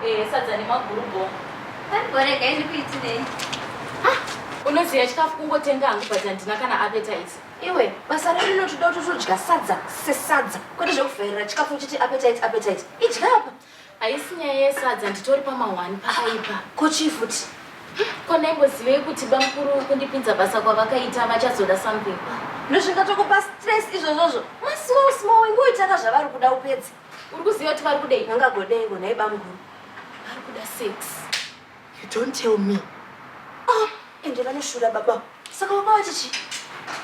Eh, sadza nemaguru bo. Pariborega izvi kuitirei? Ah, unoziva chikafu kungotenga hangu but handina kana appetite. Iwe, basa redu rinotoda kuti todya sadza sesadza kwete zvekuvhairira chikafu uchiti appetite appetite. Idya apa. Haisi nyaya yesadza nditori pamahwani pakaipa. Ko chii futi? Ko ndaimbozivei kuti bamukuru kundipinza basa kwavakaita vachazoda something. Ndozvingatokupa stress izvozvozvo. Masiwo small wengoitaka zvavari kuda upedze. Uri kuziva kuti vari kudei? Vangagodei ngo nhai bamukuru? Vari kuda sex. You don't tell me. Ah, ende vanoshura baba. Saka baba vachichi?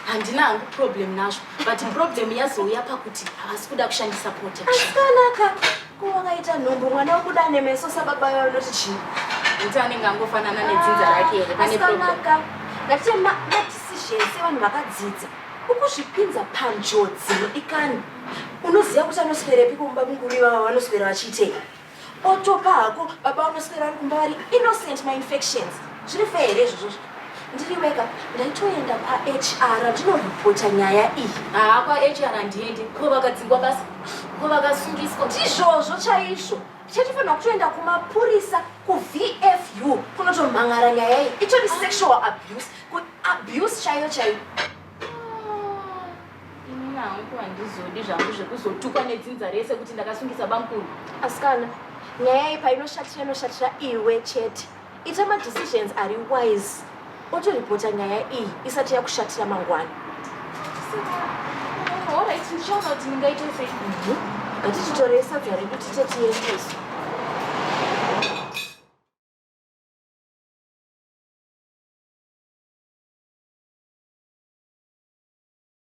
Handina hangu problem nazvo, but problem yazouya pakuti havasi kuda kushandisa protection. Asikanaka. Ko wakaita nhumbu mwana wokuda nemeso sababa vavo noti chii? Kuti anenge angofanana nedzinza rake here pane problem? Asikanaka. Ngatichema decisions sevanhu vakadzidza. Ukuzvipinza panjodzi ikani. unoziva kuti anoswerepi kumba mukuru ivava vanoswera vachiitei otopa hako baba vanoswera ari kumba vari innocent mainfections zviri fe here izvozvozvo ndiri wega ndaitoenda kwahr ndinoripota nyaya iyi haa kwahr handiende ko vakadzingwa basa ko vakasungiswa ndizvozvo chaizvo chatifanira kutoenda kumapurisa kuvfu kunotomhan'ara nyaya iyi itori sexual abuse kuabuse chaiyo chaiyo Inini hangu handizodi zvangu zvekuzotukwa nedzinza rese kuti ndakasungisa bamkuru. Asikana, nyaya iyi painoshatira inoshatira iwe chete. Ita madecisions ari wise otoripota nyaya iyi isati yakushatira mangwana. Alright, ndichaona kuti ndingaite sei. Ngatichitorei sadza redu tite tiendeswe.